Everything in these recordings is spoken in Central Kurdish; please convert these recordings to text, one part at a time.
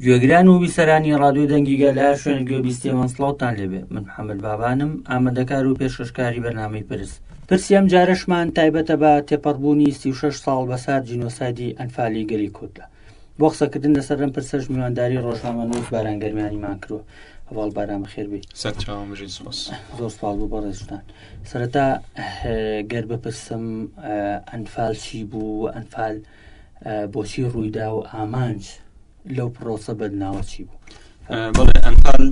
گوێگران و بیسەرانی ڕادوی دەنگیگە لە شوێن گوێبیستێمان سڵاوتان لێبێ من حەمل بابانم ئامادەکار و پێشکەشکاری بەرنامەی پرس پرسی ئەم جارشمان تایبەتە بە تێپەڕبوونی 36 ساڵ بەسەر جینۆسایدی ئەنفالی گەلی کوردە بۆ قسەکردن لەسەر ئەم پرسەش میوانداری ڕۆژنامەنووس باران گەرمیانیمان کردووە هەواڵ باران بەخێربی زۆر سپاڵ بوو بەڕێزتان سەرەتا گەر بپرسم ئەنفال چی بوو ئەنفال بۆچی ڕوویدا و ئامانج لەو پرۆسە بەدناوە چی بوو بەڵێ ئەنفال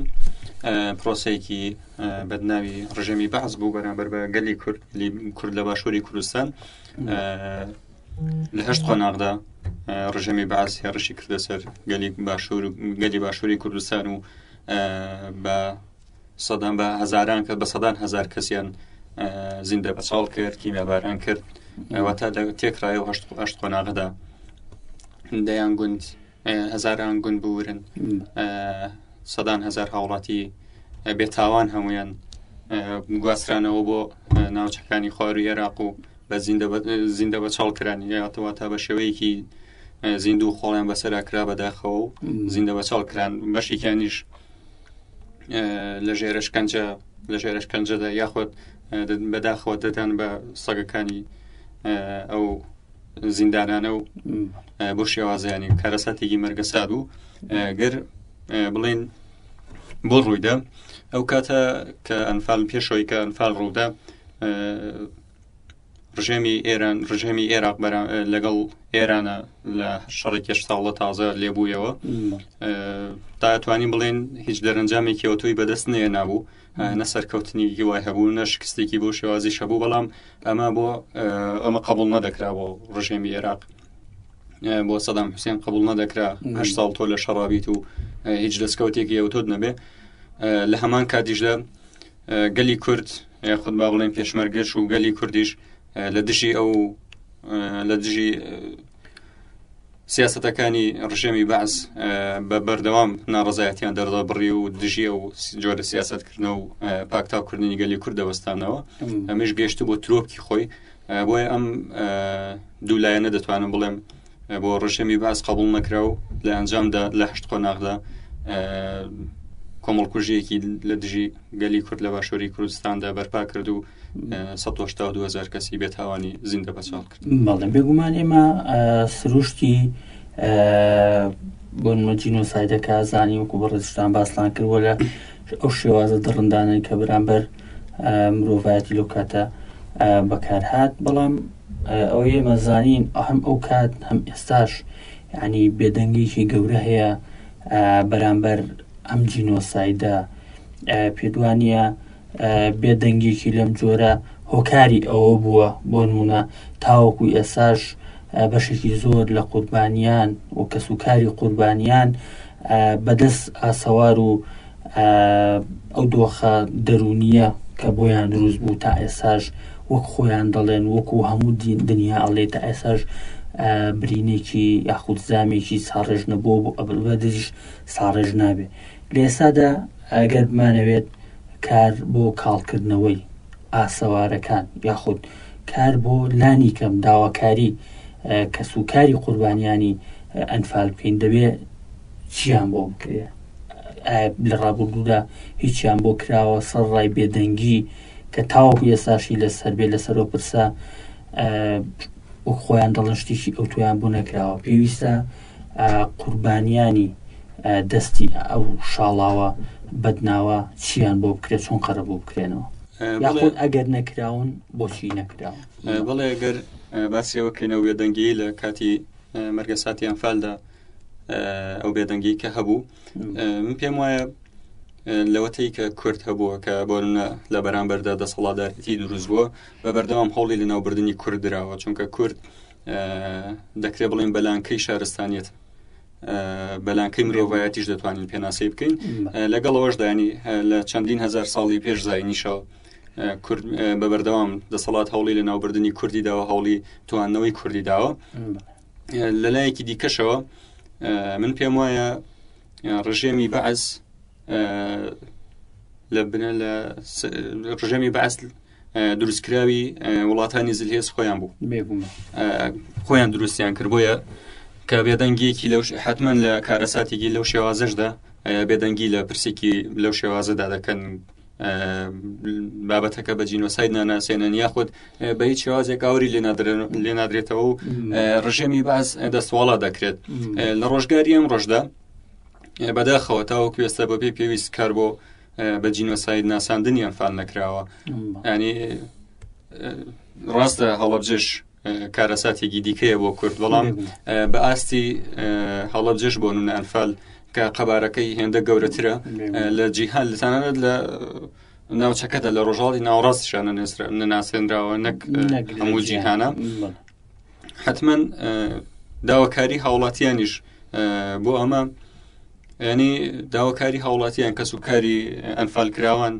پرۆسەیەکی بەدناوی ڕژێمی بەعز بوو بەرامبەر بە گەلی کورد کورد لە باشووری کوردستان لە هەشت قۆناغدا ڕژەمی باس هێڕشی کردە سەر گەلی باشوور گەلی باشووری کوردستان و بە سەدان بە هزاران کە بە سەدان هزار کەسیان زیندە بەچاڵ کرد کیمیاباران کرد ئەوەتا تێکڕایە و هەشت قۆناغدا دەیان گوند هەزاران گوند بورن سەدان هزار هاوڵاتی بێتاوان هەمویان گواسترانەوە بۆ ناوچەکانی خواروی عێراق و بە زیندە بە چاڵ کرانی یاتەوە تا بە شێوەیەکی زیندوو خۆڵیان بەسەرا کرا بەداخەوە و زیندە بە چاڵ کران بەشێکیانیش لە ژێرشکەنجە لە ژێرشکەنجەدا یاخود بەداخەوە دەدان بە سەگەکانی ئەو زیندانانە و بۆ شێوازیانی کارەساتێکی مەرگەسا بوو گەر بڵێن بۆ ڕوویدا ئەو کاتە کە ئەنفال پێشەوەی کە ئەنفال ڕوودا ڕژێمی ئێران ڕژێمی ئێراق لەگەڵ ئێرانە لە شەڕێکێش ساڵە تازە لێبوویەوە تاتوانین بڵێن هیچ دەرەنجامێکی ئەوتۆی بەدەست نێ نابوو نە سەرکەوتنیکی وای هەبوو نە شکستێکی بۆ شێوازیش هەبوو بەڵام ئەمە بۆ ئەمە قبول نەدەکرا بۆ ڕژێمی عێراق بۆ سەدام حوسێن قبول نەدەکرا هە ساڵ تۆ لە شەڕابیت و هیچ دەستکەوتێکی ئەوتۆت نەبێ لە هەمان کاتیشدا گەلی کورد خود با بڵێن پێشمەرگەش و گەلی کوردیش لە دژی ئەو لە دژی سیاسەتەکانی ڕژێمی بەعس بە بەردەوام ناڕزایەتیان دەردەبڕی و دژی و جۆرە سیاستکردنە و پاکتاوکردنی گەلی کورد دەوەستانەوە ئەمەش گەشت بۆ ترۆپکی خۆی بۆیە ئەم دوولایەنە دەتوانم بڵێم بۆ ڕژێمی باس قبول نەکرا و لە ئەنجامدا لە هەشت قۆناغدا کۆمەڵکوژیەکی لە دژی گەلی کورد لە باشووری کوردستاندا بەرپا کرد و هزار کەسی بێتاوانی زیندە بەچاڵ کرد بەڵێ بێگومان ئێمە سروشتی بۆن مەجین و سایدەکە زانی وەکو بەڕێزشتان باسلان کردوە لە ئەو شێوازە دڕندانەی کە بەرامبەر مرۆڤایەتی لەو کاتە بەکارهات بەڵام ئەو ئێمە زانین ئەهم ئەو کات هەم ئێستاش ینی بێدەنگێکی گەورە هەیە بەرامبەر ئەم جینۆسایدە پێدوانە بێدەنگێکی لەم جۆرە هۆکاری ئەوە بووە بۆ نمونە تاوەکو ئێساش بەشێکی زۆر لە قوربانیان و کەس و کاری قوربانیان بەدەست ئاسەوار و ئەو دۆخە دەرونیە کە بۆیان دروست بوو تا ئێساش وەک خۆیان دەڵێن وەکو هەموو دنیا ئەڵێ تا ئێساش برینێکی یاخود زامێکی ساڕێژ نەبوو بۆ ئەبلبەدریش ساڕێژ نابێ لە ئێستادا ئەگەر بمانەوێت کار بۆ کاڵکردنەوەی ئاسەوارەکان یاخود کار بۆ لانی کەم داواکاری کەس و کاری قوربانیانی ئەنفال بکەین دەبێ چیان بۆ بکرێ لە ڕابردوودا هیچیان بۆ کراوە سەر ڕای بێدەنگی کە تاوەکو ئێستاشی لەسەر بێ لەسەر و پرسە خۆیان دەڵن شتێکی ئەو تویان بوو نەکراوە پێویستە قوربانیانی دەستی ئەو شاڵاوە بەدناوە چیان بۆ بکرێت چۆن قەرە بۆ بکرێنەوە یاخود ئەگەر نەکراون بۆچی نەکراون بڵێ گەر باسیەوە کەینەوە وێدەنگی لە کاتی مەرگە ساتی ئەمفالدا ئەو بێدەنگی کە هەبوو من پێم وایە لەوەتی کە کورد هەبووە کە بۆنە لە بەرامبەردا دەسەڵاتدارەتی دروست بووە بە بەردەوام هەوڵی لە ناوبردننی کورد درراوە چونکە کورد دەکرێت بڵێن بەلانکەی شارستانیت بەلانکەی مرۆڤایەتیش دەتوانین پێناسەی بکەین لەگەڵ ئەوەشدانی لە چەندین هزار ساڵی پێش زینیشەوە بە بەردەوام دەسەڵات هەوڵی لە ناوبردننی کوردی داوە هەوڵی توانەوەی کوردی داوە لە لایەکی دیکەشەوە من پێم وایە ڕژێمی بەعس لە بنە لە ڕژێمی بەعس دروستکراوی وڵاتانی زلهێز خۆیان بوو خۆیان دروستیان کرد بۆیە کە بێدەنگیەکی لەو حتمما لە کارەساتێکی لەو شێوازەشدا بێدەنگی لە پرسێکی لەو شێوازەدا دەکەن بابەتەکە بە جینۆساید ناناسێنن یاخود بە هیچ شێوازێک ئاوری لێ نادرێتەوە و ڕژێمی باز دەستواڵا دەکرێت لە ڕۆژگاری ئەم ڕۆژدا بەداخەوە تاوەکوێستە بەبێ پێویست کار بۆ بە جینۆساید ناساندنی ئەنفال نەکراوە ینی ڕاستە هەڵەبجێش کارەساتێکی دیکەیە بۆ کورد بەڵام بە ئاستی هەڵەبجێش بۆ نون ئەنفال کە قەبارەکەی هێندە گەورەترە لە جیهان لەسانانت لە ناوچەکەدا لە ڕۆژاڵی ناوڕاستشانە نەناسێنراوە نەک هەموو جیهانە حتمما داواکاری هاوڵاتیانیش بۆ ئەمە ینی داواکاری هاوڵاتیان کەس و کاری ئەنفال کراوان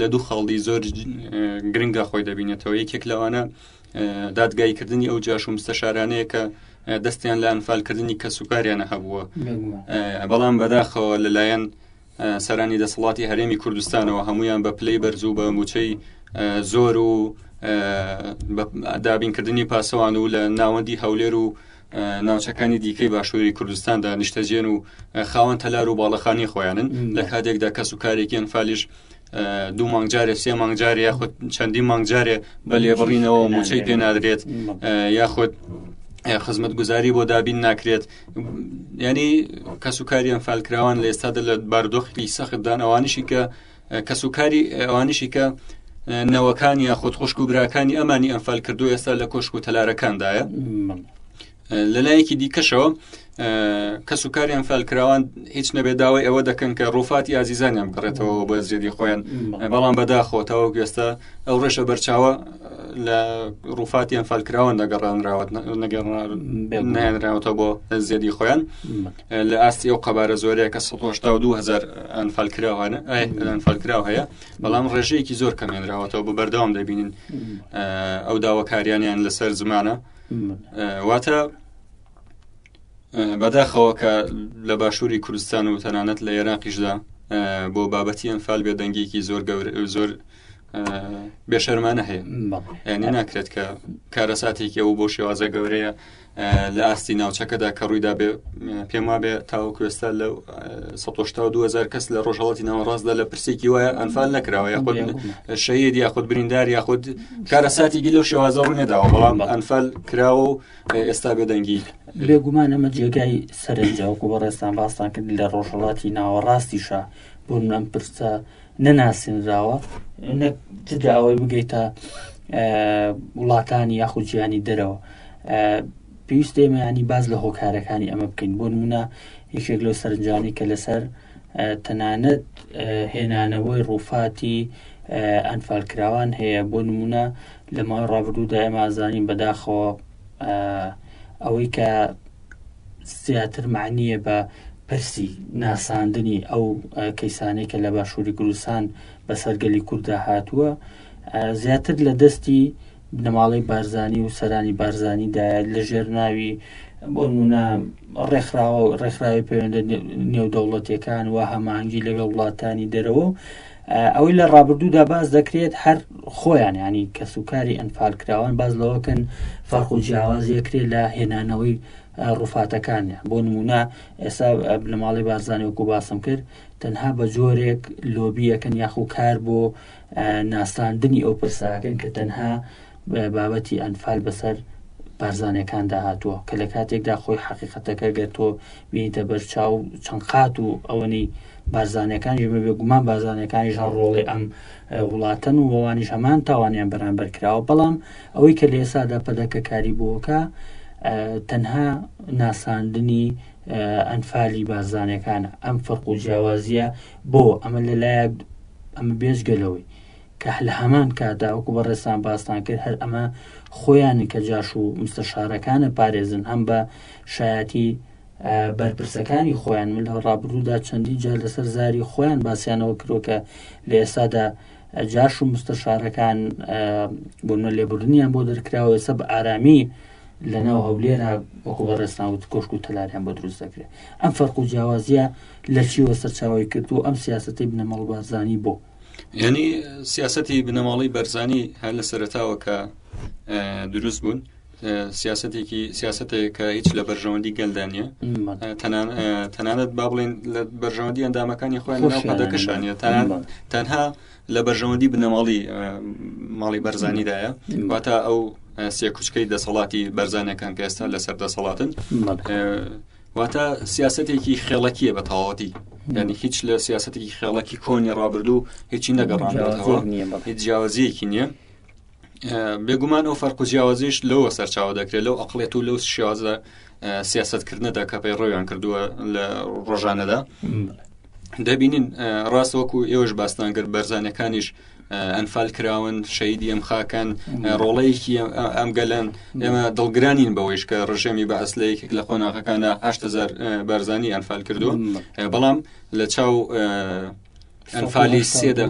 لە دوو خاڵدی زۆر گرنگە خۆی دەبینێتەوە یەکێک لەوانە دادگایکردنی ئەو جاش و مستەشارانەیە کە دەستیان لە ئەنفالکردنی کەسوکاریانە هەبووە بەڵام بەداخەوە لەلایەن سەرانی دەسەڵاتی هەرێمی کوردستانەوە هەمویان بە پلەی بەرزوو بە موچەی زۆر و دابینکردنی پاسەوان و لە ناوەندی هەولێر و ناوچەکانی دیکەی باشووری کوردستاندا نیشتەجێن و خاوەن تەلار و باڵەخانی خۆیانن لە کاتێکدا کەس و کارێکیان فالیش دوو مانگ جارێ سێ مانگ جارێ یاخود چەندی مانگ جارێ بە لێبڕینەوە موچەی پێنادرێت یاخود خزمەت گوزاری بۆ دابین ناکرێت ینی کەس و کاریان فالکراوان لە ئێستادا لە باردۆخی سەختدان ئەوانشی کە کەس و کاری ئەوانشی کە نەوەکانی یاخود خوشک و براکانی ئەمانی ئەمفال کردو ئێستا لە کۆشک و تەلارەکاندایە لەلایەکی دیکەشەوە کەس و کاریان فالکراوان هیچ نەبێ داوای ئەوە دەکەن کە ڕوفاتی ئازیزانیان بگەڕێتەوە بە زێدی خۆیان بەڵام بەداخۆتەوە گوێستە ئەو ڕێشە بەرچاوە لە ڕوفاتیان فالکراوان دەگەڕانراوت نەگەڕنراوەتەوە بۆ زێدی خۆیان لە ئاستی ئەو قەبارە زۆرەیە کە 1970هزار ئەنفالکراوانە ئەنفالکراو هەیە بەڵام ڕێژەیەکی زۆر کەمێنراوەتەوە بە بەردەوام دەبینین ئەو داواکاریانیان لەسەر زمانە واتە بەداخەوە کە لە باشووری کوردستان و تەنانەت لە عێراقیشدا بۆ بابەتی ئەم فال بێ دەنگێکی زۆر گەور زۆر بێشەرمانە هەیە ینی ناکرێت کە کارەساتێکی ئەو بۆ شێوازە گەورەیە لە ئاستی ناوچەکەدا کە ڕوویدا بێ پێم وابێ تاوکوێستا لە 2000 کەس لە ڕۆژهڵاتی ناوەڕاستدا لە پرسێکی وایە ئەنفال نەکراوە یاخود شەید یاخود بریندار یاخود کارەساتی گیل لەو شێوازە ڕوو نەداوە بەڵام بە ئەنفەل کراوە و ئێستا بێدەنگی بێگومان ئەمە جێگای سەرنجاوکو بە ڕێستان باستان کرد لە ڕۆژهڵاتی ناوەڕاستیشە بۆ ئەم پرسە نەناسینراوە نەک جدا ئەوەی بگەیتە وڵاتانی یاخود جیانی دەرەوە پێویست ئێمە ینی باز لە هۆکارەکانی ئەمە بکەین بۆ نمونە یەکێک لەو سەرنجانی کە لەسەر تەنانەت هێنانەوەی ڕووفاتی ئەنفالکراوان هەیە بۆ نمونە لە ماوەی ڕابردوودا ئێمە ئازانین بەداخەوە ئەوەی کە زیاتر معنیە بە پرسی ناساندنی ئەو کەیسانەی کە لە باشووری کوردستان بەسەرگەلی کووردا هاتووە زیاتر لە دەستی بنەماڵەی بارزانی و سەرانی بارزانی دایە لە ژێرناوی بۆ نمونە ڕێکخراوە ڕێکخراوی پەیوەندە نێودەوڵەتیەکان و هەمانگی لەگەڵ وڵاتانی دەرەوە و ئەوەی لە ڕابردوودا باز دەکرێت هەر خۆیان ینی کەس و کاری ئەنفالکراوان باز لەوەکەن فەرق و جیاوازیەکرێت لە هێنانەوەی ڕوفاتەکانە بۆ نمونە ئێستا بنەماڵی بارزانانی وەکو باسم کرد تەنها بە جۆرێک لۆبیەکەن یاخو کار بۆ ناساندنی ئەو پرساکەن کە تەنها بابەتی ئەنفال بەسەر بارزانەکاندا هاتووە کە لە کاتێکدا خۆی حقیقەتەکە گەر تۆ بینیتە بەر چاو چەند قات و ئەوەنی بارزانەکانیش بە بێگومان بازانەکانیش هەر ڕۆڵی ئەم وڵاتەن و وڵانیش هەمان تاوانیان بەرامبەر کراوە بەڵام ئەوەی کە لە ئێسادا پەدەکەکاری بووەکە تەنها ناساندنی ئەنفالی بارزانەکانە ئەم فەرق و جیاوازیە بۆ ئەمە لەلایەک ئەمە بێژگەلەوەی کە لە هەمان کادا وەکو بە ڕێسان باستان کرد هەر ئەمە خۆیان کە جاش و مستەشارەکانە پارێزن هەم بە شایەتی بەرپرسەکانی خۆیان من لە ڕابروودا چەندین جار لەسەر زاری خۆیان باسییانەوە کرۆکە لە ئێستادا جاش و مستەشارەکان بۆنە لێبوردنیان بۆ دەرکراوە سە بە ئارامی لەناو هەولێرە وەکو بە ڕێسناوت کۆشک و تەلاریان بۆ دروست دەکرێت ئەم فەرق و جیاوازیە لە چیوە سەرچاوی کرد و ئەم سیاستەی بنەمەڵ بازانی بۆ ینی سیاستی بنەماڵی بەرزانی هەر لە سەرتاوە کە دروست بوون سیاسەتێکی سیاسەتێک کە هیچ لە بەرژەوەندی گەلدا نیە تەنانەت با بڵێن لە بەرژەوەندی ئەندامەکانی خۆیان پادەکەشانە تەنها لە بەرژەوەندی بنەماڵی ماڵی بەرزانیدایە واتە ئەو سێکوچکەی دەسەڵاتی بەرزانەکان کە ئێستا لەسەر دەسەڵاتن واتە سیاسەتێکی خێڵەکیە بە تەواتی ینی هیچ لە سیاسەتێکی خێڵەکی کۆنی ڕابردوو هیچی نەگەڕان هیچ جیاوازیەکی نییە بێگومان ئەو فەرق و جیاوازیش لەوە سەرچاوە دەکرێت لەو ئەقلێت و لەو شێوازە سیاستکردنەدا کە پێی ڕۆیان کردووە لە ڕۆژانەدا دەبینین ڕاست وەکو ئێوەش باستان گەر بەرزانەکانیش ئەنفال کراون شەیدی ئەم خاکەن ڕۆڵەیەکی ئەم گەلەن ئێمە دڵگرانین بەوەیش کە ڕژێمی بە ئەسلە یەکێک لە قۆناغەکانە هزار بەرزانی ئەنفال کردو بەڵام لە چاو ئەنفالی سێدا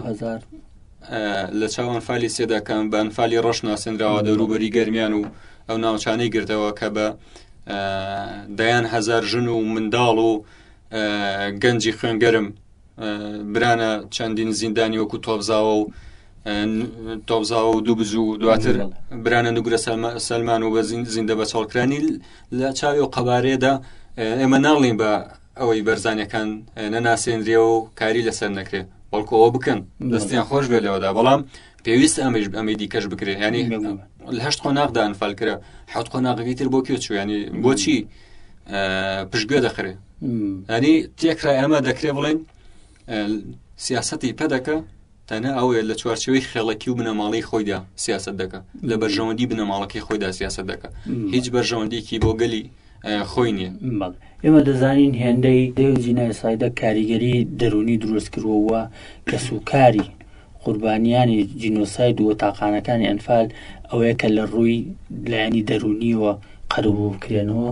لە چاو ئەنفالی سێداکان بە ئەنفالی ڕەش ناسێنراوە دەوروبەری گەرمیان و ئەو ناوچانەی گردەوە کە بە دەیان هزار ژن و منداڵ و گەنجی خوێنگەرم برانە چەندین زیندانی وەکو تۆبزاوە و تۆبزاوە و دوو بزوو دواتر برانە نگرە سەلمان و بە زیندە بە چاڵکرانی لە چاوی و قەبارێدا ئێمە ناڵین بە ئەوەی بەرزانەکان نەناسێنرێ و کاری لەسەر نەکرێ بەڵکو ئەوە بکەن دەستیان خۆش بێ لەوەدا بەڵام پێویست ئەمەش ئەمەی دیکەش بکرێ ینی لەهشت قۆناغدا ئەنفال کرا حوت قۆناغەکەی تر بۆ کوێ چویانی بۆچی پشتگوێ دەخرێ ئەنی تێکرای ئەمە دەکرێ بڵێن سیاستی پەدەکە تەنها ئەوەیە لە چوارچەوەی خێڵەکی و بنەماڵی خۆیدا سیاست دەکە لە بەرژەوەندی بنەماڵەکەی خۆیدا سیاست دەکە هیچ بەرژەوەندێکی بۆ گەلی خۆی نییە ئێمە دەزانین هێندەی دێو جینایسایدە کاریگەری دەرونی دروست کردووە کە سوکاری قوربانیانی جینۆساید و تاقانەکانی ئەنفال ئەوەیە کە لە ڕووی لایەنی دەرونیەوە قەرەوە بکرێنەوە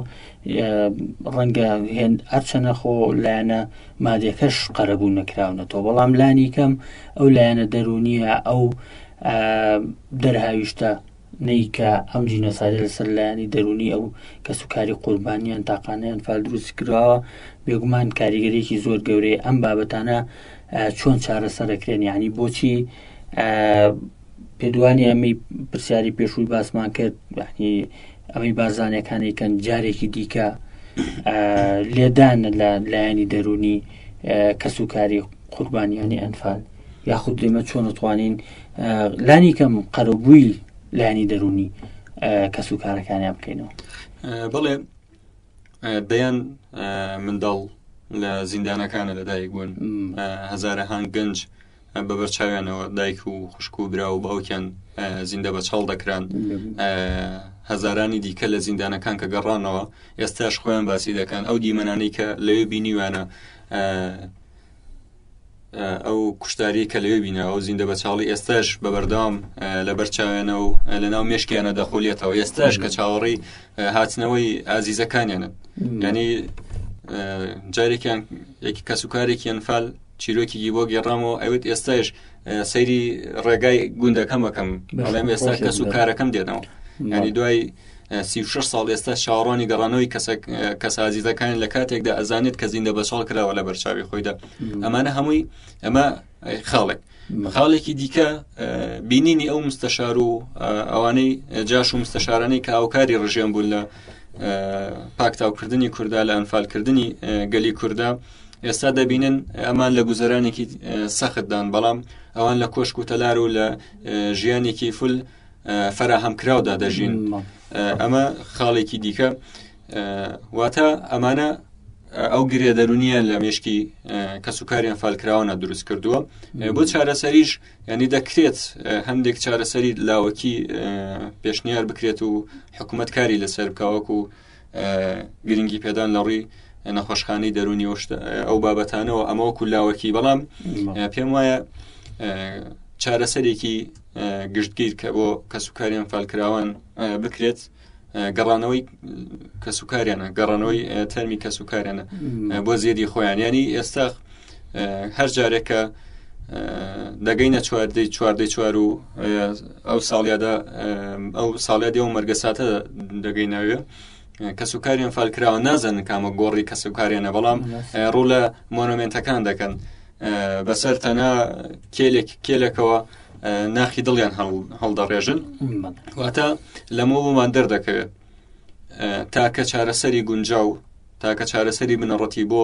ڕەنگە هەرچەنە خۆ لایەنە مادەکەش قەرەبوو نەکراونەتەوە بەڵام لانی کەم ئەو لایەنە دەرونیە ئەو دەرهاویشتە نیکە ئەم جینۆسایدە لەسەر لایەنی دەرونی ئەو کە سوکاری قوربانیان تاقانیان فال دروست کراوە بێگومان کاریگەرێکی زۆر گەورەیە ئەم بابەتانە چۆن چارەسەرەکرێن یعنی بۆچی پێدوانی ئەمی پرسیاری پێشووی باسمان کرد بەحنی ئەوەی بارزانەکانی کەن جارێکی دیکە لێدان لە لایەنی دەرونی کەس و کاری قوربانیانی ئەنفال یاخود لێمە چۆن توانین لانی کەم قەرەبووی لایانی دەرونی کەس و کارەکانیان بکەینەوە بڵێ دەیان منداڵ لە زیندانەکانە لەدایک بوون هزارە هاان گەنج بە بەرچاویانەوە دایک و خوشک و برا و باوکیان زیندە بە چاڵ دەکران هەزارانی دیکە لە زیندانەکان کە گەڕانەوە ئێستاش خۆیان باسی دەکەن ئەو دیمەنانەی کە لەوێ بینیوانە ئەو کوشتاری کە لەوێ بینەوە و زیندە بە چاڵی ئێستاش بە بەردەوام لە بەرچاوێنە و لە ناو مشکیانە دەخۆلێتەوە ئێستاش کە چاوەڕی هاتنەوەی ئازیزەکانیانن ینی جارێکیان یەکی کەسوکارێکیان فال چیرۆکیی بۆ گێڕامەوە ئەوێت ئێستاش سەیری ڕێگای گوندەکەم بەکەم بەڵێم ئێستا کەس و کارەکەم دێنەوە ینی دوای سی ساڵ ئێستا چاوەڕوانی گەڕانەوەی کەسازیزەکان لە کاتێکدا ئەزانێت کە زیندە بە ساڵ کراوە لە بەرچاوی خۆیدا ئەمانە هەمووی ئەمە خاڵێک خاڵێکی دیکە بینینی ئەو مستەشار و ئەوانەی جاش و مستەشارانەی کە ئاوکاری ڕژێن بوون لە پاکتاوکردنی کووردا لە ئەنفالکردنی گەلی کووردا ئێستا دەبینن ئەمان لە گوزەرانێکی سەختدان بەڵام ئەوان لە کۆشک و تەلار و لە ژیانێکی فل فەراهەمکراودا دەژین ئەمە خاڵێکی دیکە واتە ئەمانە ئەو گرێ دەرونیە لە مشکی کەسوکاریان فالکراوانە دروست کردووە بۆ چارەسەریش ینی دەکرێت هەندێک چارەسەری لاوەکی پێشنیار بکرێت و حکوومەت کاری لەسەر بکەوەکو و گرنگی پێدان لە ڕووی نەخۆشخانەی دەرونی ئەو بابەتانەوە ئەمەوە کولاوەکی بەڵام پێم وایە چارەسەرێکی گشتگیر کە بۆ کەسوکاریان فالکراوان بکرێت گەڕانەوەی کەسوکاریانە گەڕانەوەی تەرمی کەسوکاریانە بۆ زێدی خۆیان ینی ئێستا هەر جارێکە دەگەینە چواردەی چواردەی چوار و ئەو ساڵیادا ئەو ساڵیادی ئەو مەرگەساتە دەگەی ناوێ کەس و کاریان فالکراوە نازانن کامە گۆڕی کەس و کارێنە بەڵام ڕوو لە مۆنۆمنتەکان دەکەن بەسەر تەنە کێلێک کێلەکەوە ناخی دڵیان هەڵدەڕێژن واتە لەمەوەمان دەردەکەوێت تاکە چارەسەری گونجاو تاکە چارەسەری بنەڕەتی بۆ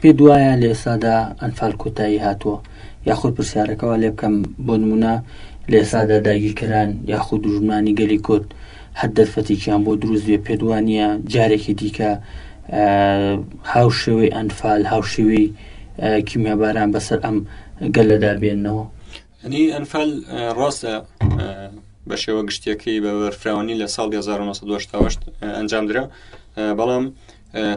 پێت وایە لە ئێستادا ئەنفال کۆتایی هاتووە یاخود پرسیارەکەەوە لێ بکەم بۆ نمونە لە ئێستادا داگیرکەران یاخود دوژمنانی گەلی کورد هەر دەرفەتێکیان بۆ دروست بێ پێت وانە جارێکی دیکە هاوشێوەی ئەنفال هاوشێوی کیمیاباران بەسەر ئەم گەلەدا بێنەوە ئەنی ئەنفال ڕاستە بە شێوە گشتیەکەی بە بەرفراوانی لە ساڵ 1970 ئەنجام درا بەڵام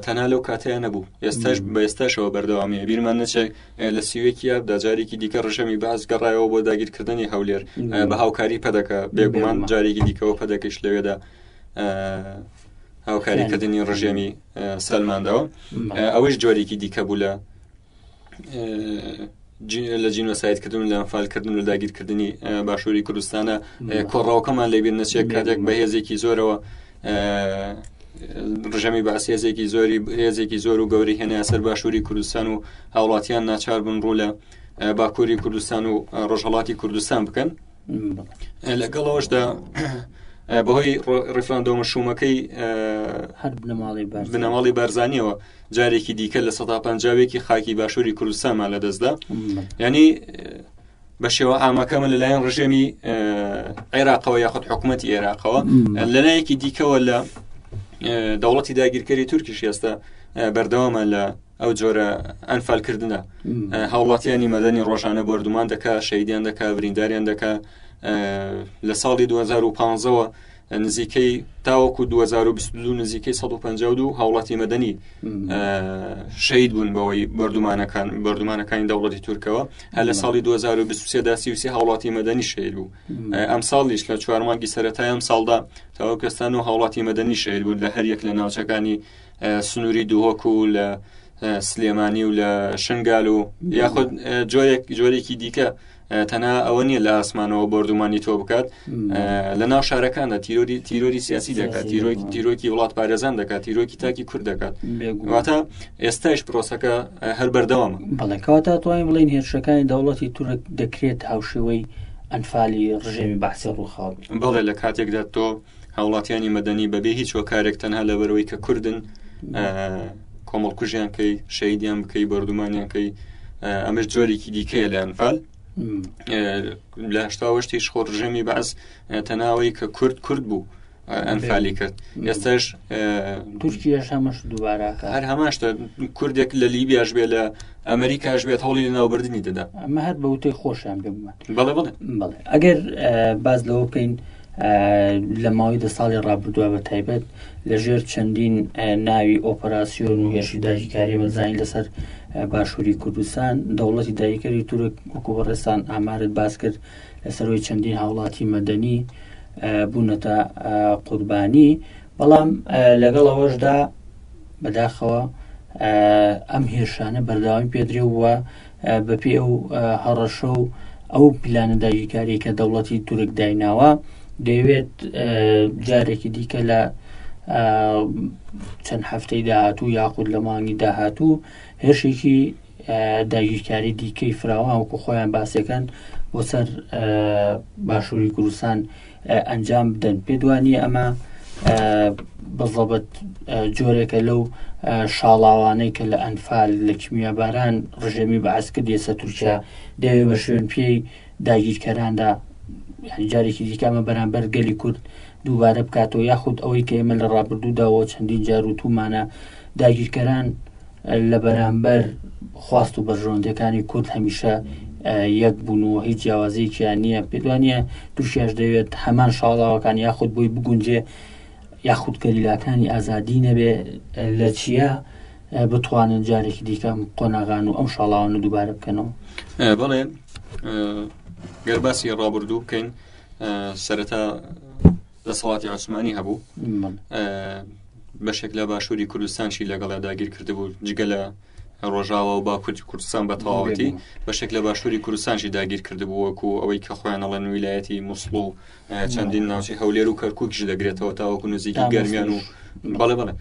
تەنها لەو کاتەیە نەبوو ئێستاش بە ئێستاشەوە بەردەوامی بیرمان نەچێک لە سیوێکی یابدا جارێکی دیکە ڕژەمی باز گەڕایەوە بۆ داگیرکردنی هەولێر بە هاوکاری پەدەکە بێگومان جارێکی دیکەەوە پەدەکەش لەوێدا هاوکاریکردنی ڕژێمی سەلماندەوە ئەوەش جۆرێکی دیکە بوو لە لە جینۆسایدکردن لە ئەمفالکردن و داگیرکردنی باشووری کوردستانە کۆڕاوکەمان لەبیر نەچێت کاتێک بە هێزێکی زۆرەوە ڕژەمی باس هێزێکی زۆری هێزێکی زۆر و گەوری هێنە سەر باشووری کوردستان و هاوڵاتیان ناچار بن ڕوو لە باکووری کوردستان و ڕۆژهڵاتی کوردستان بکەن لەگەڵ ئەوشدا بەهۆی ڕفراندۆمە شوومەکەی هەر بنەماڵی بنەماڵی بارزانانیەوە جارێکی دیکە لە سەدا پنجاوێکی خاکی باشووری کوردستانمان لە دەستدا ینی بە شێوە ئامەکەمە لەلایەن ڕژێمی عێراقەوە یاخود حکوومەت عێراقەوە لەلایەکی دیکەوە لە دەوڵەتی داگیرکەری تورکیش ئێستا بەردەوامە لە ئەو جۆرە ئەنفالکردە هاوڵاتیانی مەدەنی ڕۆژانە بردومان دەکا شەیدیان دەکا برینداریان دەکا لە ساڵی 2015ەوە نزیکەی تاوەکو 2022 نزیکەی 152 هاوڵاتی مەدەنی شەید بوون بەوەی بردومانەکان بردومانەکانی دەوڵەتی تورکەوە هە لە ساڵی 2023 داسی هاوڵاتی مەدەنی شەید بوو ئەم ساڵیش لە چوارمانگی سەتای ئەم ساڵدا تاوەکەستان و هاوڵاتی مەدەنی شەید بوون لە هەریەک لە ناوچەکانی سنووری دهۆک و لە سلێمانی و لە شنگال و یاخود جۆرێک جۆرێکی دیکە تەنا ئەوە نییە لە ئاسمانەوە بردومانی تۆ بکات لە ناو شارەکاندا تیرۆری تیرۆری سیاسی دەکات تیرۆکی تیرۆکی وڵات پارێزان دەکات تیرۆکی تاکی کورد دەکات واتە ئێستاش پرۆسەکە هەر بەردەوام بەڵێکاتە توانین بڵین هێرشەکانی دەوڵەتی تورک دەکرێت هاوشێوەی ئەنفالی ڕژێمی بەعسی ڕووخاو بڵێ لە کاتێکدا تۆ هاوڵاتیانی مەدەنی بەبێ هیچ هۆکارێک تەنها لەبەرەوەی کە کوردن کۆمەڵکوژیان کەی شەیدیان بکەی بەردومانیان کەی ئەمەش جۆرێکی دیکەیە لە ئەنفال لە هشتاوەشتیش خۆ ڕژێمی بەس تەناوەی کە کورد کورد بوو ئەنفالی کرد ئێستاش تورکیش هەمەش دووبارە هەر هەماشتە کوردێک لە لیبیاش بێ لە ئەمریکاش بێت هەوڵی لە ناوبردننی دەدا ئەمە هەر بەوتەی خۆشیان پێ بڵێ بڵێ ئەگەر باز لەوە بکەین لە ماوەی دە ساڵی ڕابردووە بە تایبەت لە ژێر چەندین ناوی ئۆپەراسیۆن و هێرشی داگیرکاری بەزانین لەسەر باشووری کوردستان دەوڵەتی داگیرکەری تورک وەکو بەڕێستان ئامارت باس کرد لەسەرەوەی چەندین هاوڵاتی مەدەنی بوونەتە قوربانی بەڵام لەگەڵ ئەوەشدا بەداخەوە ئەم هێرشانە بەرداوای پێدرێ وە بەپێی ئەو هەڕەشە و ئەو پلانە داگیرکاریە کە دەوڵەتی تورک دایناوە دەیەوێت جارێکی دیکە لە چەند هەفتەی داهاتوو یاخود لە مانگی داهاتوو هێرشێکی داگیرکاری دیکەی فراوان وکو خۆیان باسەکەن بۆ سەر باشووری کوردستان ئەنجام بدەن پێت وانە ئەمە بەزەبەت جۆرێکە لەو شاڵاوانەی کە لە ئەنفال لە کیمیاباران ڕژێمی بەعس کرد ئێستا تورکیا دەوێ بە شوێن پێی داگیرکەراندا جارێکی دیکەمە بەرامبەر گەلی کورد دووبارە بکاتەوە یاخود ئەوەی کە ئێمە لە ڕابردووداەوە چەندین جاروتومانە داگیرکەران لە بەرامبەر خواست و بەرژەوەندەکانی کورد هەمیشە یەک بوون و هیچ جیاوازیەکیان نییە پێدوانە دوشیش دەوێت هەمان شاڵاوەکان یاخود بۆی بگونجێ یاخود گەریلاکانی ئازادی نەبێ لە چیە بتوانن جارێکی دیکەم قۆناغان و ئەم شاڵاوانە دووبارە بکەنەوە بڵێ گەرباسی ڕابردوو بکەین سەرەتا دەسەڵاتی عوسمانی هەبوو بەشێک لە باشووری کوردستانشی لەگەڵا داگیر کردبوو جگە لە ڕۆژاوە و باکوورتی کوردستان بە تەواوەتی بەشێک لە باشووری کوردستانشی داگیر کردبووەکو ئەوەی کە خۆیان ئەڵەن ویلایەتی مووسڵ و چەندین ناوچی هەولێر و کەرکووکش دەگرێتەوە تاوەکو نزیکی گەرمیان و بەڵێ بڵێ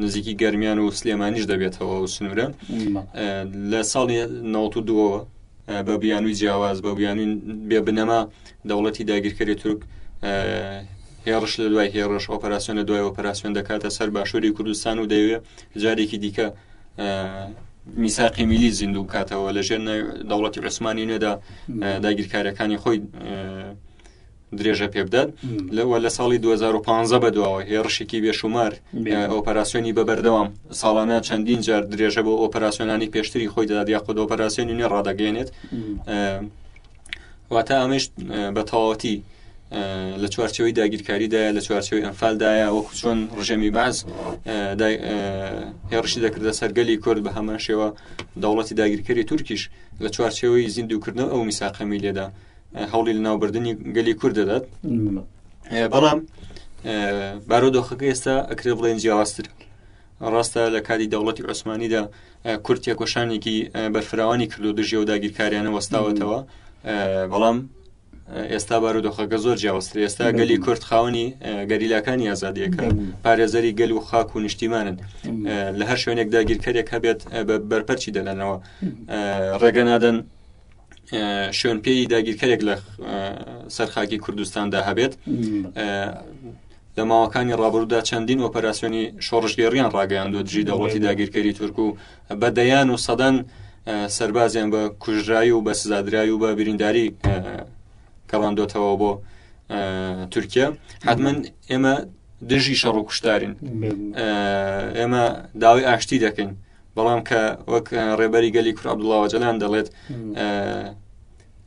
نزیکی گەرمیان و سلێمانیش دەبێتەوە و سنوورە لە ساڵی 92ەوە بە بیانووی جیاواز بە بیانووی بێ بنەما دەوڵەتی داگیرکەری تورک هێڕش لە دوای هێڕش ئۆپەراسسیۆن لە دوای ئۆپەراسسیۆن دەکاتە سەر باشووری کوردستان و دەیەوێ جارێکی دیکە میساقی میلی زیندوو بکاتەوە لە ژێر دەوڵەتی عوسمانی نێدا داگیرکارەکانی خۆی درێژە پێبدات لەوە لە ساڵی 2015 بەدواوە هێڕشێکی بێشومار ئۆپەراسسیۆنی بە بەردەوام ساڵانە چەندین جار درێژە بۆ ئۆپەراسسیۆنانی پێشتری خۆی دەدات یا خود ئۆپەراسسیۆنی نوێ ڕدەگەێنێت واتە ئەمەش بە تەواوەتی لە چوارچەوەی داگیرکاریدایە لە چوارچەوەی ئەمفالدایە وەکو چۆن ڕژێمی باز هێڕشی دەکردە سەرگەلی کورد بە هەمان شێوە دەوڵەتی داگیرکەری تورکیش لە چوارچەوەی زیندوکردن ئەو میساقەمی لێدا هەوڵی لەناوبردننی گەلی کورد دەدات بەڵام بارۆ دۆخەکە ئێستا ئەکرێ بڵێن جیاوازتر ڕاستە لە کاری دەوڵەتی عوسمانیدا کورد تێکۆشانێکی بەرفراوانی کردو دژێ و داگیرکاریانە وەستاوەتەوە بەڵام ئێستا بارودۆخەکە زۆر جیاوەستر ئێستا گەلی کورد خاوەنی گەریلاکانی ئازادیەکە پارێزەری گەل و خاک و نیشتیمانن لە هەر شوێنێک داگیرکەرێک هەبێت بە بەرپەرچی دەلەنەوە ڕێگە نادەن شوێن پێی داگیرکەرێک لە سەرخاکی کوردستاندا هەبێت لە ماوەکانی ڕابرودا چەندین ئۆپەراسسیۆنی شۆڕژگەێڕیان ڕاگەیان دو دژی دەوڵەتی داگیرکەری تورک و بە دەیان و سەدان سربازیان بە کوژرایی و بە سزادرای و بە برینداری کەڵاندۆتەوە بۆ تورکیا حتمما ئێمە دژی شەڕ و کوشتارین ئێمە داوای ئاشتی دەکەین بەڵام کە وەک ڕێبەری گەلی کور عبدڵاوە جەلان دەڵێت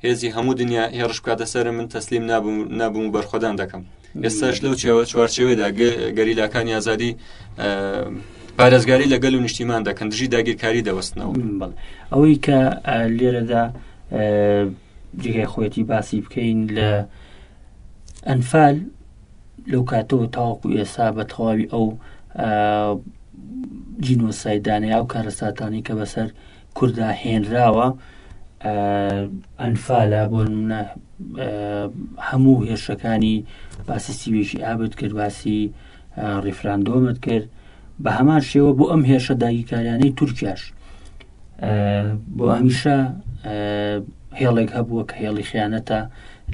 هێزی هەموو دنیا هێڕش بکاتە سەر من تەسلیم نابووم نابووم و بەرخۆدان دەکەم ئێستاش لەو چێوە چوارچێوێدا گەریلاکان یازادی پارێزگاری لە گەل و نیشتیمان دەکەن دژی داگیرکاری دەوەستنەوە ئەوەی کە لێرەدا جگای خۆەتی باسی بکەین لە ئەنفال لەو کاتەوە تاوەکو ئێسا بە تەواوی ئەو جینۆسایدانەی ئەو کارەساتانی کە بەسەر کوردا هێنراوە ئەنفالە بۆ منە هەموو هێرشەکانی باسی سیوێکی ئابد کرد باسی ڕیفراندۆمت کرد بە هەمان شێوە بۆ ئەم هێرشە داگیرکاریانەی تورکیاش بۆ هەمیشە هێڵێک هەبووە کە هێڵی خیانەتە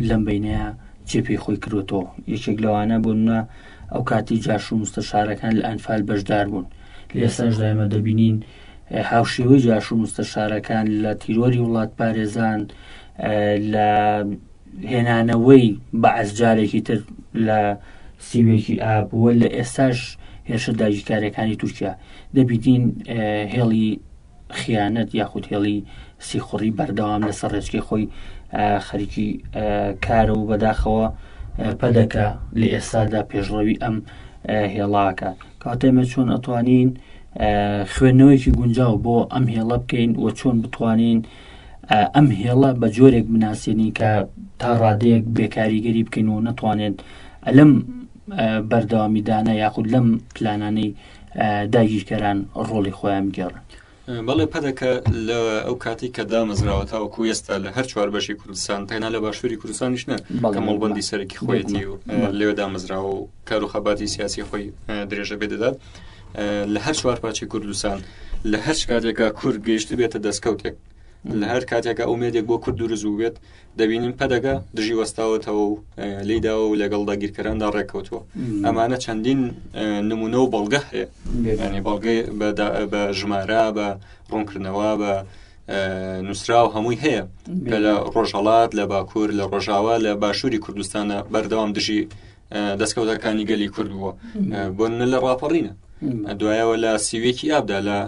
لەم بینەیە چێ پێی خۆی کرۆتەوە یەکێک لەوانە بوونە ئەو کاتی جاش و مستەشارەکان لە ئەنفال بەشدار بوون لێساش دایمە دەبینین هاوشێوەی جاش و مستەشارەکان لە تیرۆری وڵات پارێزان لە هێنانەوەی بەعس جارێکی تر لە سیوێکی ئاب وە لە ئێستاش هێرشە داگیرکارەکانی تورکیا دەبیین هێڵی خیانەت یاخود هێڵی سیخوڕی بەردەوام لەسەر ڕێچکی خۆی خەریکی کارە و بەداخەوە پەدەکە لە ئێستادا پێشڕەوی ئەم هێڵاکە کاتێمە چۆن ئەتوانین خوێندنەوەیکی گونجاو بۆ ئەم هێڵە بکەین و چۆن بتوانین ئەم هێڵە بە جۆرێک بناسیێنین کە تا ڕادەیەک بێکاریگەری بکەین و نەتوانێت ئەلم بەردەوامیدانە یاخود لەم پلانانەی داگیرکەران ڕۆڵی خۆیان گێڕن بەڵێ پەدەکە لە ئەو کاتی کە دامەزراوە تاوەکو ئێستا لە هەر چوار بەشی کوردستان تەنا لە باشووری کوردستانیش نە کە مەڵبندی سەرەکی خۆیەتی و لێوە دامەزراوە و کار و خەباتی سیاسی خۆی درێژە بێ دەدات لە هەر چوار پارچی کوردستان لە هەر کاتێکا کورد گەیشت بێتە دەستکەوتێک لە هەر کاتێکە ئومێدێک بۆ کورد دروست بوو بێت دەبینین پەدەگە دژی وەستاوەتەوە و لیداوە و لەگەڵ داگیرکەراندا ڕێککەوتووە ئەمانە چەندین نمونە و بەڵگە هەیە ینی بەڵگەی بە ژمارە بە ڕوونکردنەوە بە نووسراو هەمووی هەیە کە لە ڕۆژهڵات لە باکوور لە ڕۆژاوا لە باشووری کوردستانە بەردەوام دژی دەستکەوتەکانی گەلی کورد بووە بۆ نە لە ڕاپەڕینە دوایەوە لە سیوێکی ئابدا لە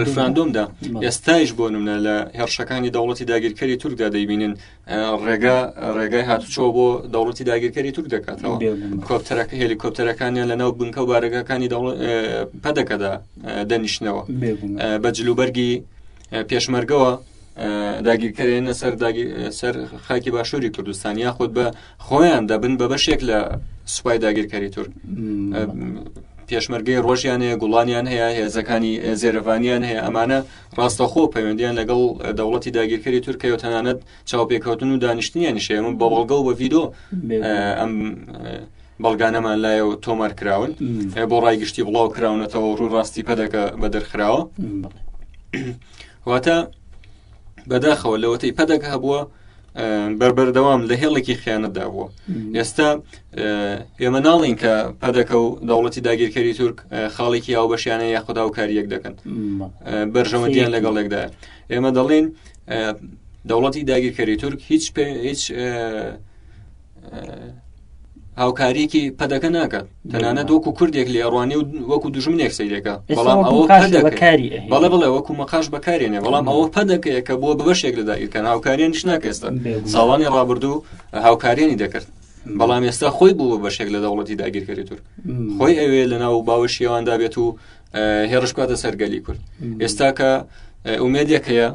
ڕفراندۆمدا ئێستایش بۆ نمە لە هێرشەکانی دەوڵەتی داگیرکەری تورکدا دەیبینن ڕێگا ڕێگای هاتوچۆ بۆ دەوڵەتی داگیرکەری تورک دەکاتەوە کۆپتەرەکە هێلیکۆپتەرەکانیان لە ناو بنکە و بارەگەکانی پەدەکەدا دەنیشتنەوە بە جلوبەرگی پێشمەرگەوە داگیرکەرێنە سەر سەر خاکی باشووری کوردستان یاخود بە خۆیان دەبن بە بەشێک لە سوپای داگیرکاری تورک پێشمەرگەی ڕۆژیان هەیە گوڵانیان هەیە هێزەکانی زێرەڤانیان هەیە ئەمانە ڕاستەخۆ پەیوەندیان لەگەڵ دەوڵەتی داگیرکەری تورکەوە تەنانەت چاوپێکەوتن و دانیشتنیان نیشەیە من بەڵگە و بە ڤیدۆ ئەم بەڵگانەمان لایە و تۆمار کراون بۆ ڕای گشتی بڵاو کراونەتەوە ڕوو ڕاستی پەدەکە بە دەرخراوە واتە بەداخەوە لەوەتەی پەدەکە هەبووە بەربەردەوام لە هێڵێکی خیانەتدا بووە ئێستا ئێمە ناڵین کە پەدەکە و دەوڵەتی داگیرکەری تورک خاڵێکی ئەو بەشیانە یاخدا و کاریەک دەکەن بەرژەوەندیان لەگەڵێکدا ئێمە دەڵێن دەوڵەتی داگیرکەری تورک هیچ هیچ هاوکاریکی پەدەکە ناکات تەنانە دۆکو کوردێک لێ ڕوانی و وەکو دژمنێک سیرێکە بەڵام ئەوە بەکاری بەڵێ بڵێ وەکو مەقاش بەکارێنێ بەڵام ئەوە پەدەکەیە کە بۆ بەشێک لە دایرکەن هاوکاریانیش ناکەێستا ساڵانی ڕابردوو هاوکاریانی دەکرد بەڵام ئێستا خۆی بوو بەشێک لە دەوڵەتی داگیرکەری تور خۆی ئەوێ لە ناو باوەشیێواندا بێت و هێڕش بکاتە سەرگەلی کورد ئێستا کە ئومێدێک هەیە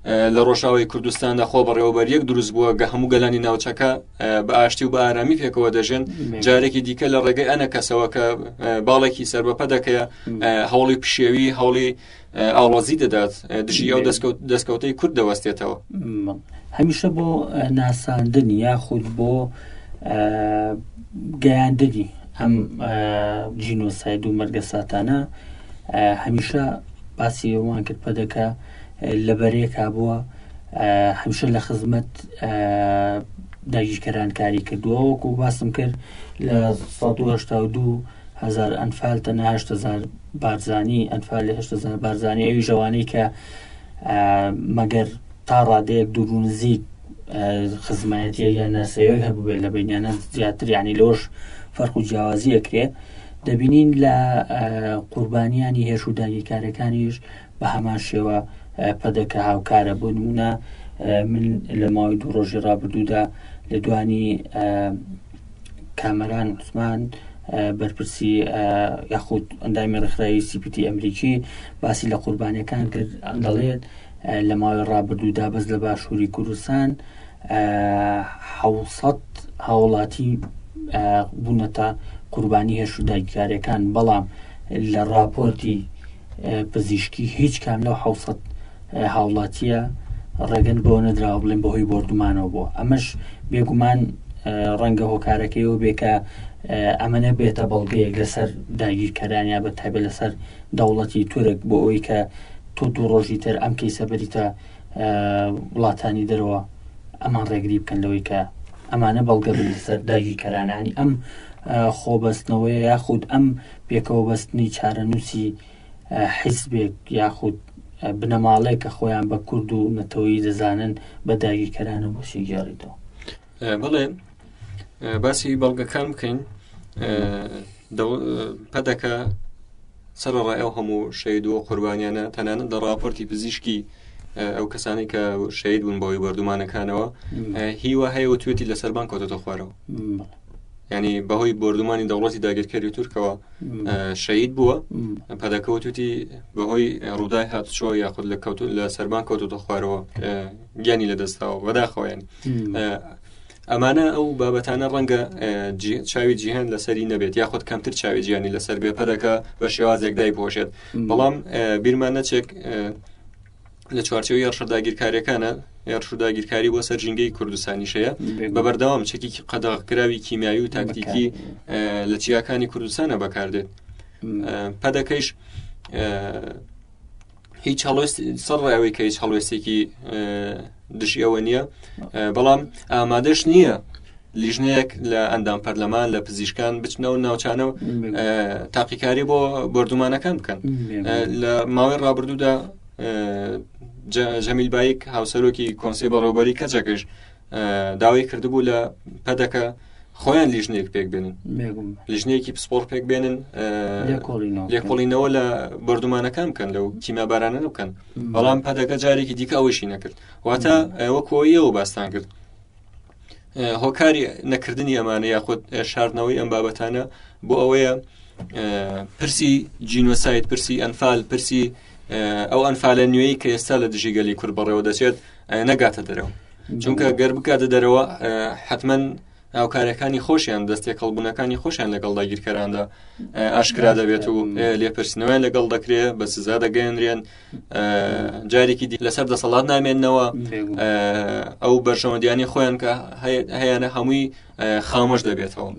لە ڕۆژاوی کوردستاندا خۆ بەڕێوەبەر یەک دروست بووە گە هەموو گەلانی ناوچەکە بە ئاشتی و بە ئارامی پێکەوە دەژێن جارێکی دیکە لە ڕێگەی ئەنە کەسەوە کە باڵێکی سربەپە دەکەیە هەوڵی پشێوی هەوڵی ئاڵۆزی دەدات دژی ئەو دەستکەوت دەستکەوتەی کورد دەوەستێتەوە هەمیشە بۆ ناساندن یاخود بۆ گەیاندنی ئەم جینۆساید و مەرگەساتانە هەمیشە باسی ئەوان کرد پەدەکە لە بەرێکا بووە هەمیشە لە خزمەت داگیرکەران کاری کردووە وەکو باسم کرد لە 1970 هزار ئەنفال تەنها هزار بارزانانی ئەنفال هزار بارزانانی ئەوی ژەوانەی کە مەگەر تا ڕادەیەک دوور و نزیک خزمایەتیە یان ناسەوێک هەبووێت لە بینیانە زیاتر یعنی لۆش فەرق و جیاوازی ئەکرێ دەبینین لە قوربانیانی هێش و داگیرکارەکانیش بە هەمان شێوە پەدەکە هاوکارە بۆ نمونە من لە ماوەی دوو ڕۆژی ڕابردوودا لە دوانی کامەران عوسمان بەرپرسی یاخود ئەندامی ڕێکخراوی سیپیتی ئەمریکی باسی لە قوربانەکان کرد دەڵێت لە ماوەی ڕابردوودا بەس لە باشووری کوردستان حوسەت هاوڵاتی بوونەتە قوربانی هێش و داگیرکاریەکان بەڵام لە راپۆرتی پزیشکی هیچ کام لەو حوسەت هاوڵاتیە ڕێگەن بۆ نەدراوە بڵێن بەهۆی بردومانەوە بۆ ئەمەش بێگومان ڕەنگە هۆکارەکەی و بێکە ئەمەە بێتە بەڵگەیەک لەسەر داگیرکەرانیا بە تابێت لەسەر دەوڵەتی تورک بۆ ئەوی کە تۆ دوو ڕۆژی تر ئەم کەیسە بریتە وڵاتانی دەرەوە ئەمان ڕێگری بکەن لەوەی کە ئەمانە بەڵگە سەر داگیرکەرانانی ئەم خۆبەستنەوەی یاخود ئەم پێکەوە بەستنی چارەنووسی حیزبێک یاخود بنەماڵەیە کە خۆیان بە کورد و نەتەوەی دەزانن بە داگیرکەرانە بۆ شیگەڕیتەوە بڵێ باسی بەڵگەکان بکەین پەدەکە سەرڕای ئەو هەموو شەید و قوربانیانە تەنانەت لە راپۆرتی پزیشکی ئەو کەسانی کە شەید بوون بەوەی بەردومانەکانەوە هیوا هەیە و توێتی لە سەربان کۆتەتە خوارەوە ینی بەهۆی بردومانی دەوڵەتی داگیرکەری تورکەوە شەید بووە پەدەکەوتوتی بەهۆی ڕوودای هاتچۆ یاخود لە کەوت لە سەربان کەوتوتە خوارەوە گیانی لەدەستداوە بەداخەوە ینی ئەمانە ئەو بابەتانە ڕەنگە چاوی جیهان لەسەری نەبێت یاخود کەمتر چاوی جیانی لەسەر بێ پەرەکە بە شێوازێک دای پۆشێت بەڵام بیرمان نەچێک لە چوارچەوەی یاڕشەداگیرکاریەکانە یاڕشداگیرکاری بۆ سەر ژینگەی کوردستانیشەیە بە بەردەوام چەکی قەدەغکراوی کیمیاوی و تاکتیکی لە چیاکانی کوردستانە بەکاردێت پەدەکەیش هیچ هەڵوێست سەر ڕێەوەی کە هیچ هەڵوێستێکی دژیەوە نییە بەڵام ئامادەش نییە لیژنەیەک لە ئەندام پەرلەمان لە پزیشکان بچنەوە ناوچانە و تاقیکاری بۆ بردومانەکان بکەن لە ماوەی ڕابردوودا جەمیل بایک هاوسەرۆکی کۆنسی بەڕێوبەری کەچەکەش داوای کردبوو لە پەدەکە خۆیان لیژنێک پێک بێنن لیژنێکی پسپۆر پێک بێنن لێکۆڵینەوە لە بردومانەکان بکەن لەو تیمابارانە بکەن بەڵام پەدەکە جارێکی دیکە ئەوەشی نەکرد واتە ئەوە کۆیەوە باستان کرد هۆکاری نەکردنی ئەمانە یاخود شاردنەوەی ئەم بابەتانە بۆ ئەوەیە پرسی جینۆسایت پرسی ئەنفال پرسی ئەو ئەنفالە نوێی کە ئێستا لە دژی گەلی کورد بەڕێوە دەچێت نەگاتە دەرەوە چونکە گەر بکاتە دەرەوە حتمما هاوکارەکانی خۆشیان دەستێک هەڵبوونەکانی خۆشیان لەگەڵ داگیرکەراندا ئاشکرا دەبێت و لێپرسنەوەیان لەگەڵ دەکرێ بە سزا دەگەێنرێن جارێکی دی لەسەر دەسەڵات نامێنەوە ئەو بەرژەوەندیانی خۆیان کە هەیەە هەمووی خامۆش دەبێتەوە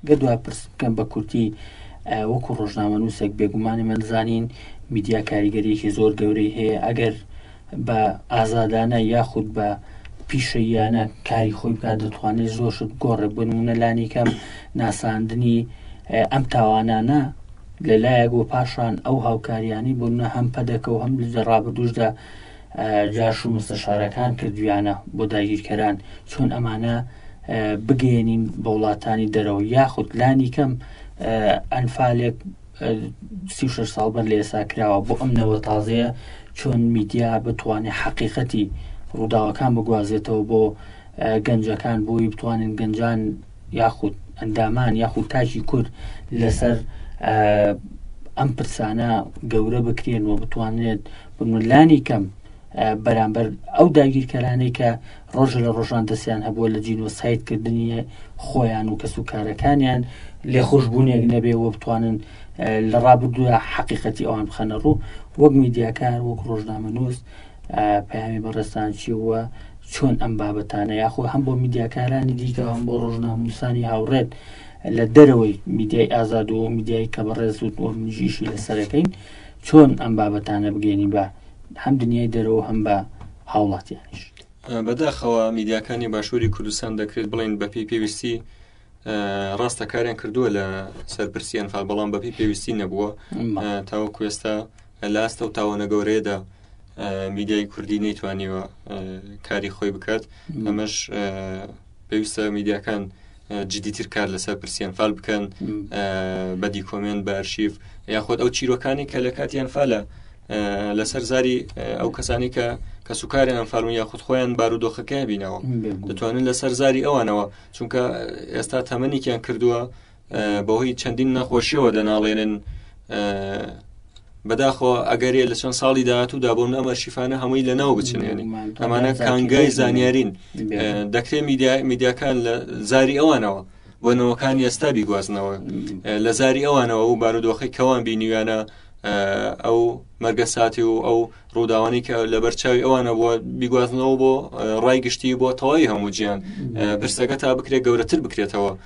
گە دو پرس بکەم بە کورتی وەکو ڕۆژنامە نووسێک بێگومانی منزانین میدیا کاریگەریەکی زۆر گەورەی هەیە ئەگەر بە ئازادانە یاخود بە پیشەییانە کاری خۆی بکات دەتوانێت زۆر شت گۆڕێ بنمونە لانیکەم ناساندنی ئەم تاوانانە لە لایەک و پاشان ئەو هاوکاریانی بوونە هەم پەدەکە و هەم لە ڕابردوشدا جاش و مستەشارەکان کردویانە بۆ داگیرکەران چۆن ئەمانە بگەێنین بە وڵاتانی دەرەوە یاخود لانی کەم ئەنفالێک سی و شەش ساڵ بەر لە ئێستا کراوە بۆ ئەم نەوە تازەیە چۆن میدیا بتوانێت حەقیقەتی ڕووداوەکان بگوازێتەوە بۆ گەنجەکان بۆی بتوانن گەنجان یاخود ئەندامان یاخود تاجی کورد لەسەر ئەم پرسانە گەورە بکرێن و بتوانێت بملانی کەم بەرامبەر ئەو داگیرکەرانەی کە ڕۆژ لە ڕۆژان دەستیان هەبووە لە جینۆسایدکردنی خۆیان و کەس و کارەکانیان لێ خۆشببوونێک نەبێ و بتوانن لە ڕابردووە حەقیقەتی ئەوان بخەنە ڕوو وەک میدیاکار وەک ڕۆژنامە نووس پامی بەڕێستان چیوە چۆن ئەم بابەتانە یاخۆ هەم بۆ میدیاکارانی دیکە هەم بۆ ڕۆژناموسانی هاوڕێت لە دەرەوەی میدیای ئازادەوە میدیای کە بەڕێز و منژیشی لەسەرەکەین چۆن ئەم بابەتانە بگەێنی بە هەم دنیای دەرەوە هەم بە هاوڵاتیانیش بەداخەوە میدیاکانی باشووری کوردستان دەکرێت بڵین بەپی پێویستی ڕاستە کاریان کردووە لە سەرپرسی ئەنفال بەڵام بەپی پێویستی نەبووە تاوە کوێستا لاستە و تاوەنە گەورەیەدا میدیای کوردی نەیتوانیوە کاری خۆی بکات ئەمەش پێویستە میدیاکان جدیتر کار لەسەر پرسیان فال بکەن بە دیکۆمنت بە ئەرشیف یاخود ئەو چیرۆکانی کە لە کاتیان فالە لەسەر زاری ئەو کەسانی کە کە سوکاری ئەمفالون یاخود خۆیان بارودۆخەکەی بینەوە دەتوانن لەسەر زاری ئەوانەوە چونکە ئێستا تەمەنێکیان کردووە بەهۆی چەندین نەخۆشیەوە دەناڵێنن بەداخۆ ئەگەرێ لە چەند ساڵی داهاتوودا بۆ ئەمە شیفاانە هەمووی لە ناو بچنێنی ئەمانە کانگای زانیارین دەکرێت میدیا میدیاکان لە زاری ئەوانەوە بۆ نەوەکان ئێستا بیگوازنەوە لە زاری ئەوانەوە و بارودۆخی کەوان بینیویانە ئەو مەرگە ساتی و ئەو ڕووداوانی کە لە بەرچاوی ئەوانە بووە بیگوازنەوە بۆ ڕای گشتی بۆ تەواوی هەموو جیان پرسەکە تا بکرێت گەورەتر بکرێتەوە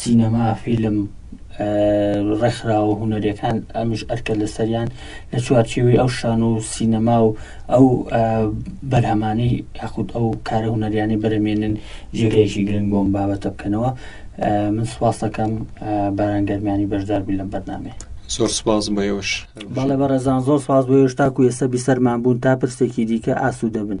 سینەما، فیلم، ڕێکخراوە هونەریەکان ئەمیش ئەرکە لەسەریان لە چوارچێوەی ئەو شان و سینەما و ئەو بەرهەمانی یاخود ئەو کارە هونەریانی بەرەمێنن جێگەیەکی گرنگ بۆم بابەتە بکەنەوە من سوپاسەکەم بارانگەرمیانی بەشدار بوو لەم بەرنامێ زۆر سپاس بۆ ئێوەش بەڵێ بەڕێزان زۆر سپاس بۆ ئێوەش تاکو ئێستا بیسەرمان بوون تا پرسێکی دیکە ئاسوودە بن